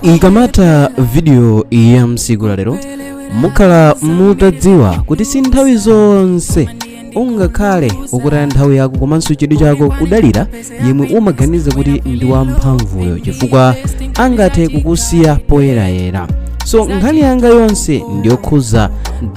ikamatha vidiyo ya tsiku la lero mukhala mutadziwa kuti si nthawi zonse ungakhale ukutaya nthawi yako komanso chidwi chako kudalira yemwe umaganiza kuti ndi wamphamvuyo chifukwa angathe kukusiya poyerayera so nkhani yanga yonse ndiyokhuza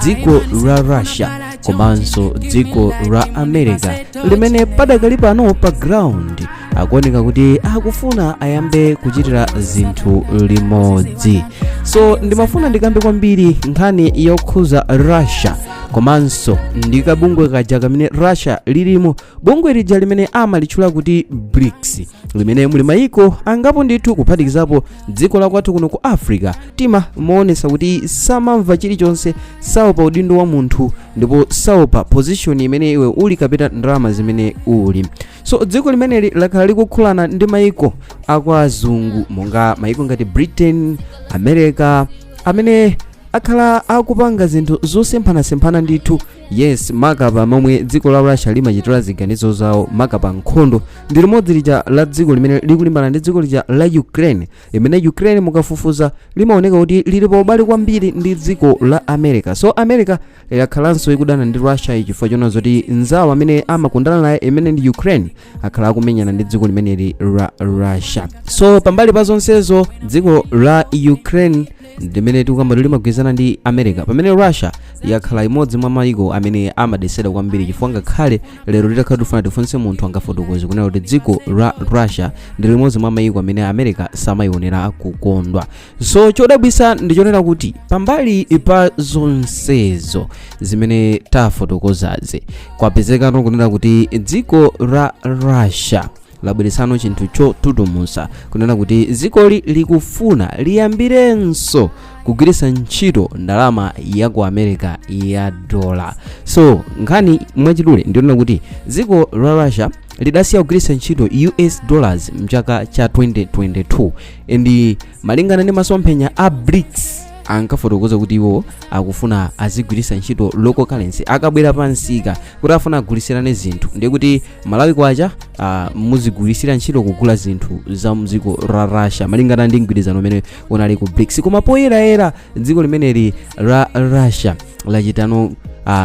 dziko la russia komanso dziko la america limene padakali pano pa ground akuoneka kuti akufuna ayambe kuchitira zinthu limodzi so ndimafuna ndikambe kwambiri nkhani yokhuza russia komanso ndi kabungwe kaja kamene russia lilimo bungwe lija limene amalitchula kuti brics limene muli mayiko angapo ndithu kuphatikizapo dziko la kwathu kuno ku africa timamuonesa kuti samamva chilichonse saopa udindo wa munthu ndipo saopa position imene iwe uli kapena ndalama zimene uli so dziko limeneli lakhala likukhulana ndi maiko akwa azungu monga maiko ngati britain america amene akhala akupanga zinthu zosemphanasemphana ndithu yes maka pa momwe dziko la russia limachitira ziganizo zawo maka pa nkhondo ndi limodzi lija la dziko limene likulimbana ndi dziko lija la ukraine imene ukraine mukafufuza limaoneka kuti lili pa ubale kwambiri ndi dziko la america so america yakhalanso ikudana ndi russia chifukwa chona zoti nzawo amene amakondana naye imene ndi ukraine akhala akumenyana ndi dziko limeneli la russia so pambali pa zonsezo dziko la ukraine limene tikukamba kuti limagwirizana ndi america pamene russia yakhala imodzi mwa mayiko amene amadesera kwambiri chifukwa ngakhale lero titakhala tifuna tifunse munthu angafotokoze kunena kuti dziko la russia ndi limodzi mwa mayiko amene america samayionera kukondwa so chodabwisa ndichonena kuti pambali pa zonsezo zimene tafotokozazi kwapezekano kunena kuti dziko la russia labweretsano chinthu chotutumusa kunena kuti dzikoli likufuna liyambirenso kugwiritsa ntchito ndalama ya ku america ya dola so nkhani mwachidule ndiyonena kuti dziko la russia lidasiya kugwiritsa ntchito us dollars mchaka cha 2022 and malingana ndi masomphenya a brics ankafotokoza kuti iwo akufuna azigwiritsa ntchito local currency akabwera pa msika kuti afuna agulitsirane zinthu ndiye kuti malawi kwacha ah, muzigwiritsira ntchito kugula zinthu za mdziko la russia malingana ndi mgwirizano umene unali ku brics koma poyerayera dziko limeneli la russia lachitano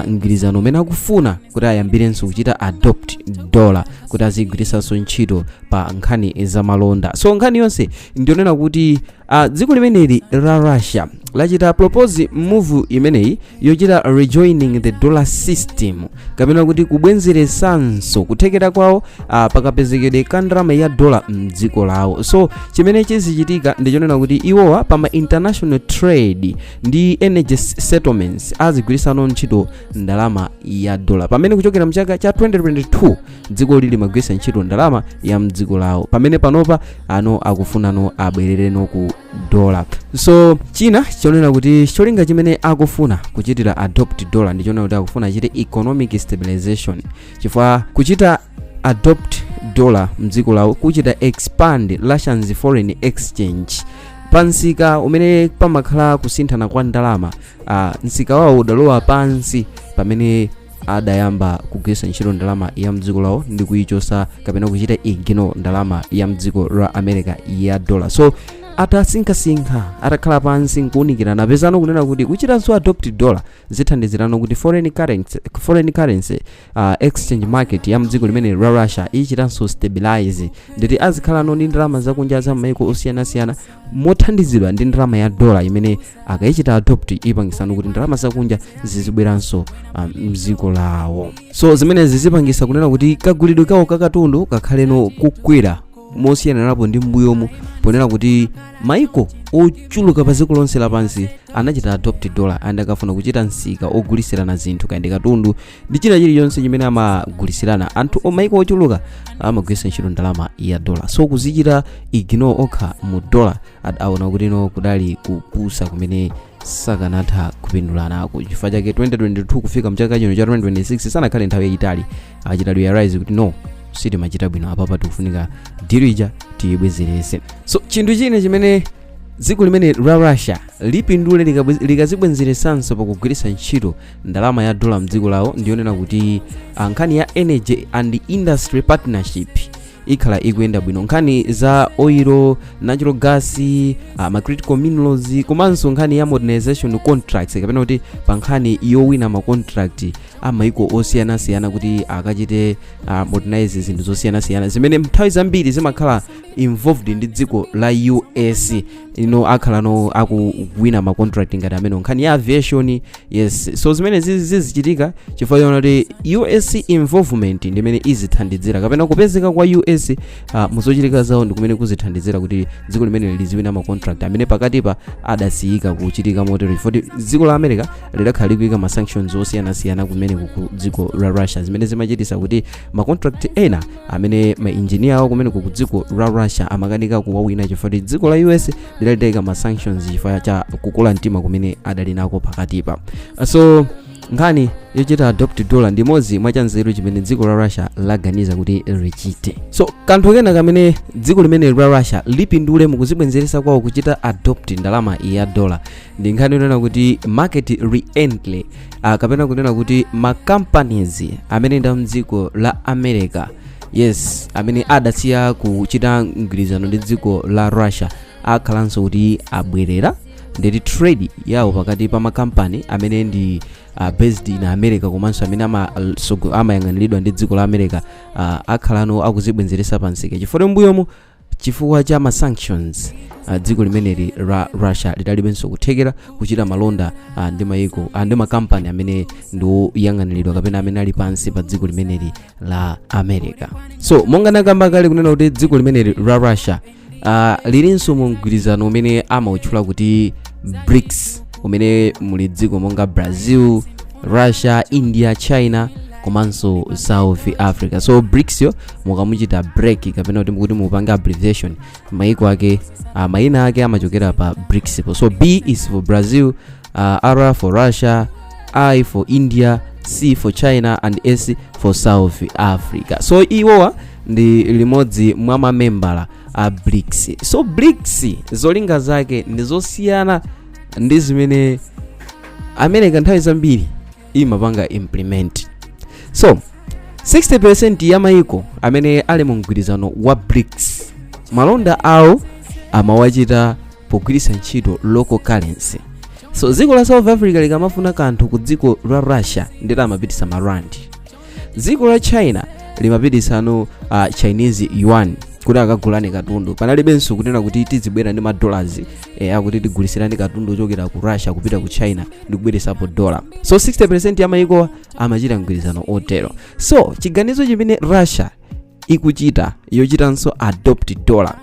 mgwirizano umene akufuna kuti ayambirenso kuchita adopt dollar kuti azigwiritsanso ntchito pa nkhani zamalonda so nkhani yonse ndionena kuti uh, dziko limeneli la russia lachita propose move imeneyi yochita rejoining the dollar system kapena kuti kubwenzeresanso kuthekera kwawo uh, pakapezekedwe ka ndalama ya dola mdziko lawo so chimene chizichitika ndichonena kuti iwowa pa ma international trade ndi energy settlements azigwirisano ntchito ndalama ya dola pamene kuchokera mchaka cha 2022 dzikoli limagwiritsa ntchito ndalama ya mdziko lawo pamene panopa ano akufunano abwerereno ku dola so china chonena kuti cholinga chimene akufuna kuchitira adopt dola ndi chonena kuti akufuna achite economic stabilization chifukwa kuchita adopt dola mdziko lawo kuchita expand russia's foreign exchange pansika umene pamakhala kusinthana kwa ndalama ah, msika wawo udalowa pansi pamene adayamba kugwiritsa ntchito ndalama ya mdziko lawo ndi kuyichosa kapena kuchita ignore ndalama ya mdziko la america ya dollar so atasinkhasinkha atakhala pansi nkuunikirana apezano kunena kuti kuchitanso adopt dollar zithandizirano kuti foreign currency, foreign currency uh, exchange market ya mdziko limeneli la russia ichitanso stabilize nde kuti azikhalano ndi ndalama zakunja za maiko osiyanasiyana mothandizidwa ndi ndalama ya dola imene akayichita adopt ipangisano kuti ndalama zakunja zizibweranso um, mdziko lawo so zimenezi zipangisa kunena kuti kagulidwe kawo kakatundu kakhaleno kukwera mosiyanirapo ndi m'mbuyomu ponena kuti maiko ochuluka pa dziko lonse lapansi anachita adopt dollar and akafuna kuchita msika ogulisirana zinthu kaya ndi katundu ndi china chilichonse chimene amagulisirana anthu o- maiko ochuluka amagwiritsa ntchito ndalama ya dollar so kuzichita ignore okha mu dollar ad- aona kuti no kudali kupusa kumene sakanatha kupindula nako chifukwa chake 2022 kufika mchaka chino cha 2026 sanakhale nthawi yayitali achita realize kuti no sitimachita bwino apapa tikufunika deal ija tiyibwezerese so chinthu china chimene dziko limene la russia lipindule likabwe- likazibwenzeresanso pakugwiritsa ntchito ndalama ya dola mdziko lawo ndiyonena kuti ah, nkhani ya energy and industry partnership ikhala ikuyenda bwino nkhani za oil natural gas uh, ma critical minerals komanso nkhani ya modernization contracts kapena kuti pa nkhani yowina ma contract a maiko osiyanasiyana kuti akachite uh, modernize zinthu zosiyanasiyana zimene nthawi zambiri zimakhala involved ndi dziko la us iwo akhalano akuwina ma contract ngati amene nkhani ya aviation yes so zimene zizi- zizichitika chifukwa chonena kuti us involvement ndi imene izithandizira kapena kupezeka kwa us uh, muzochitika zawo ndi kumene kuzithandizira kuti dziko limene liziwina ma contract amene pakatipa adasiyika kuchitika motero chifukwa kuti dziko la america lidakhala likuika ma sanctions osiyanasiyana kumene ku dziko la russia zimene zimachitisa kuti ma contract ena amene ma engineer awo kumeneko ku dziko la russia amakanika kuwawina chifukwa kuti dziko la us lidalitaika ma sanctions chifukwa cha kukula mtima kumene adali nako pakatipa so nkhani yochita adopt dollar ndi imodzi mwa chanzeru chimene dziko la russia laganiza kuti lichite so kanthu kena kamene dziko limeneli la russia lipindule mukuzibwenzeretsa kwawo kuchita adopt ndalama ya dollar ndi nkhani yonena kuti market reentry uh, kapena kunena kuti ma companies amene nda mdziko la america yes amene adasiya kuchita mgwirizano ndi dziko la russia akhalanso kuti abwerera ndiye kuti trade yawo pakati pa makampani amene ndi uh, based in america komanso amene amayang'aniridwa ama ndi dziko la america uh, akhalano akuzibwenzeretsa pamsika chifukwa m'mbuyomo chifukwa cha ma sanctions ah, dziko limeneli la russia lidalibenso kuthekera kuchita malonda ah, ndi mayiko ah, ndi makampani amene ndi oyang'aniridwa kapena amene ali pansi pa dziko limeneli la america so monga nakamba kale kunena kuti dziko limeneli la russia ah, lilinso mu mgwirizano umene amautchula kuti brics umene muli dziko monga brazil russia india china komanso south africa so brics yo mukamuchita break kapena kuti mukuti mupange abbreviation maiko ake uh, mayina ake amachokera pa brics po so b is for brazil uh, r for russia i for india c for china and s for south africa so iwowa ndi limodzi mwa mamembala a brics so brics zolinga zake ndi zosiyana ndi zimene america nthawi zambiri imapanga implement so 60% ya maiko amene ali mu mgwirizano wa brics malonda awo amawachita pogwiritsa ntchito local currency so dziko la south africa likamafuna kanthu ku dziko la russia ndiye amapititsa marandi dziko la china limapititsano uh, chinese yuan kuti akagulane katundu panalibenso kunena kuti tizibwera ndi madolars eh, akuti tigulisirani katundu ochokera ku russia kupita ku china ndi kubweretsapo dollar so 60% ya mayikowa amachita mgwirizano otero so chiganizo chimene russia ikuchita yochitanso adopt dollar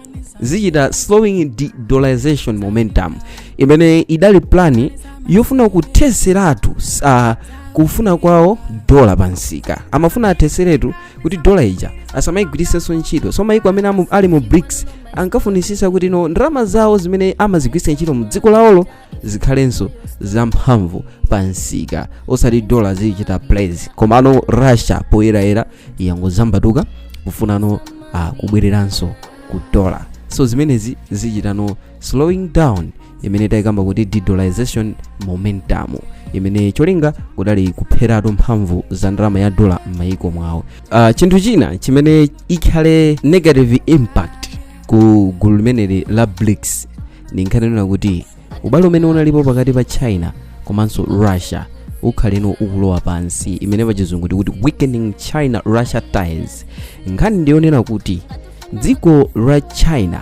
zichita slowing de-dollarization momentum imene idali plani yofuna kutheseratu uh, kufuna kwawo dola pa msika amafuna atheseretu kuti dola ija asamayigwiritsenso ntchito so mayiko amene amu- ali mu brics ankafunisisa kuti no ndalama zawo zimene amazigwiritsa ntchito mu dziko lawolo zikhalenso zamphamvu pa msika osati dola zikuchita place komano russia poyerayera yangozambatuka kufunano uh, kubwereranso ku dola so zimenezi zichitano slowing down imene tayikamba kuti de-dollarization momentum imene cholinga kudali kupheratu mphamvu za ndalama ya dola m'mayiko mwawo uh, chinthu china chimene ikhale negative impact ku gulu limeneli la brics ndi nkhani yonena kuti ubale umene unalipo pakati pa china komanso russia ukhaleno ukulowa pansi imene pachizungu tikuti weakening china russia ties nkhani ndiyonena kuti dziko la china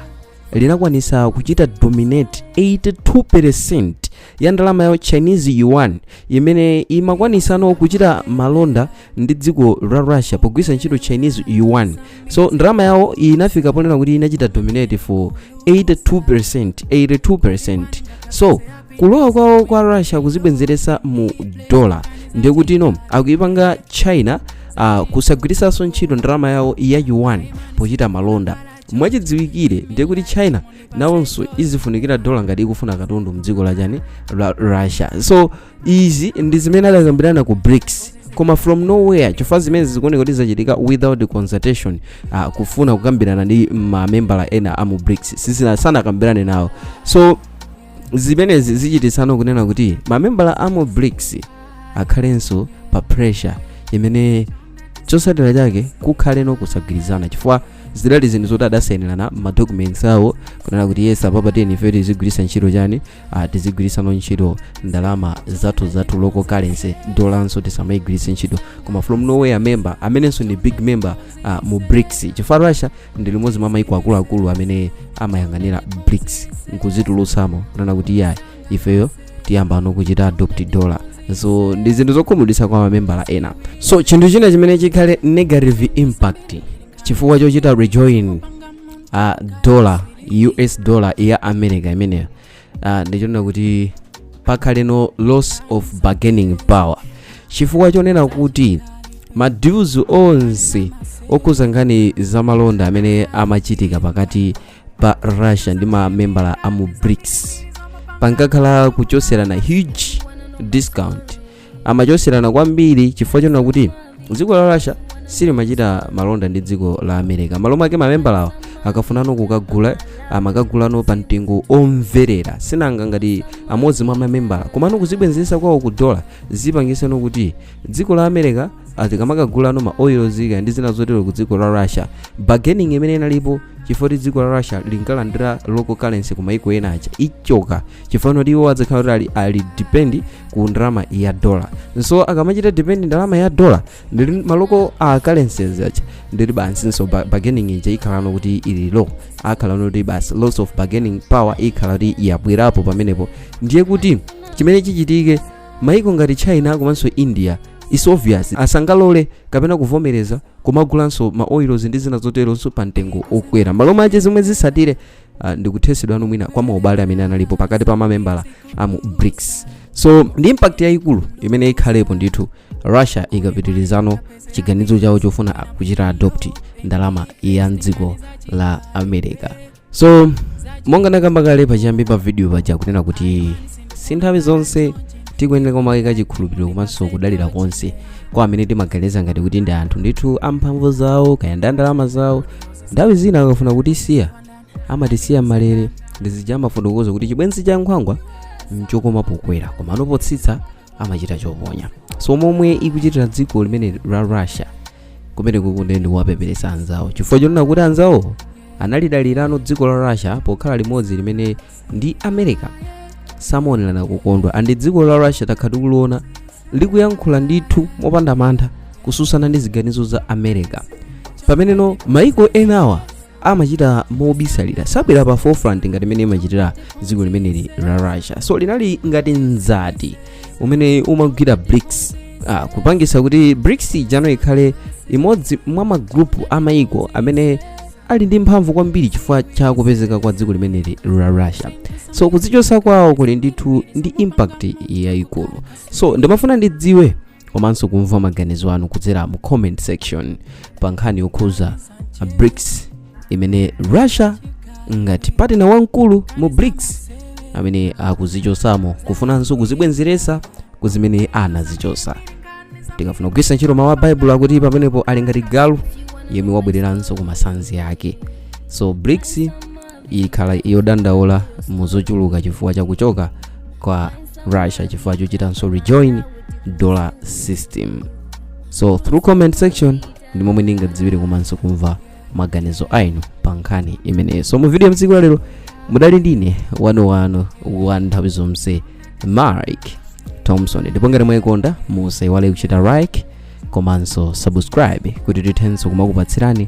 linakwanisa kuchita dominate 82% ya ndalama ya chinese yuan imene imakwanisano kuchita malonda ndi dziko la russia pogwiritsa ntchito chinese yuan so ndalama yawo inafika ponena kuti inachita dominate for 82% 82% so kulowa kwawo kwa russia kuzibwenzeresa mu dola ndiye kutino akuyipanga china uh, kusagwiritsanso ntchito ndalama yawo ya yuan pochita malonda mwachidziwikire ndiye kuti china nawonso izifunikira dola ngati ikufuna katundu mdziko la chani la russia so izi ndi zimene adakambirana ku brics koma from nowhere chifukwa zimene zikuoneka kuti zachitika without consultation uh, kufuna kukambirana ndi mamembala ena a mu brics sanakambirane nawo so zimenezi zichitisano kunena kuti mamembala a mu brics akhalenso pa pressure imene chosatira chake kukhaleno kusagwirizana chifukwa zidali zinthu zoti adasainirana ma documents awo kunena kuti yes apapa tiyeni ife tizigwiritsa ntchito chani ah, tizigwiritsano ntchito ndalama zathu zathu local currency dolanso tisamayigwiritse ntchito koma from nowhere member amenenso ndi big member ah, mu brics chifukwa russia ndi limodzi mwa maiko akuluakulu amene amayang'anira brics nkuzitulutsamo kunena kuti iyayi ifeyo tiyambano kuchita adopt dollar so ndi zinthu zokhumudwitsa kwa mamembala ena so chinthu china chimene chikhale negative impact chifukwa chochita rejoin uh, dollar us dollar ya america imeneyo uh, ndichonena kuti pakhaleno loss of bargaining power chifukwa chonena kuti ma deals onse okhuza nkhani zamalonda amene amachitika pakati pa russia ndi mamembala a mu brics pankakhala kuchoserana huge discount amachoserana kwambiri chifukwa chonena kuti dziko la russia silimachita malonda ndi dziko la america malo mwake mamembalawo akafunano kukagula amakagulano pa mtengo omverera sinanga ngati amodzi mwa mamembala komano kuzibwenzesa kwawo ku dola zipangiseno kuti dziko la america azikamakagulano ma oils kaya ndi zina zotero ku dziko la russia bargaining imene inalipo chifukwa kuti dziko la russia linkalandira local currency ku maiko ena aja ichoka chifukwa kuti iwo adzakhala kuti ali, ali depend ku ndalama ya dollar so akamachita depend ndalama ya dollar ndiye ma local currencies aja ndiye basinso ba- bargaining ija ikhalano kuti ili low akhalano kuti basi loss of bargaining power ikhala kuti yabwerapo pamenepo ndiye kuti chimene chichitike maiko ngati china komanso india is obvious asangalole kapena kuvomereza kumagulanso ma oils ndi zina zoteronso pa mtengo okwera malo mache zomwe zisatire uh, ndikuthesedwano mwina kwa maubale amene analipo pakati pa mamembala amu brics so ndi impact yayikulu imene ikhalepo ndithu russia ikapitirizano chiganizo chawo chofuna kuchita adopt ndalama ya mdziko la america so monga nakamba kale pachiyambi pa video paja kunena kuti si nthawi zonse tikuyenera kumaika chikhulupiriro komanso kudalira konse kwa amene timaganiza ngati kuti ndi anthu ndithu amphamvu zawo kaya ndi andalama zawo nthawi zina akafuna kutisiya amatisiya mmalere ndizija amafotokoza kuti chibwenzi cha nkhwangwa nchokoma pokwera komano potsitsa amachita choponya so momwe ikuchitira dziko limene la russia kumene kukungokhala kuwapeperesa anzawo chifukwa chonena kuti anzawo analidalirano dziko la russia pokhala limodzi limene ndi america samaonerana kukondwa and dziko la russia takhala tikuliona likuyankhula ndithu mopanda mantha kususana ndi ziganizo za america pameneno maiko enawa amachita mobisalira sabwera pa forefront ngati mmene imachitira dziko limeneli la russia so linali ngati mzati umene umagwira brics ah, kupangisa kuti brics ijano ikhale imodzi mwa magrupu amaiko amene ali ndi mphamvu kwambiri chifukwa cha kupezeka kwa dziko limeneli la russia so kudzichosa kwawo kuli ndithu ndi impact yayikulu so ndimafuna ndidziwe komanso kumva maganizo anu kudzera mu comment section pa nkhani yokhuza brics imene russia ngati partner wamkulu mu brics amene akuzichosamo kufunanso kuzibwenzeresa ku zimene anazichosa tikafuna kugwisa ntchito mawu a baibulo akuti pamenepo ali ngati galu yemwe wabwereranso ku masanzi ake so brics ikhala yodandaula mu zochuluka chifukwa cha kuchoka kwa russia chifukwa chochitanso rejoin dollar system so through comment section ndi momwe ndingadziwire komanso kumva maganizo anu pa nkhani imeneyi so mu video ya tsiku la lero mudali ndine wanu wanu wa nthawi zonse mark thompson ndipo ngati mwayikonda musaiwale kuchita like komanso subscribe kuti tithenso kumakupatsirani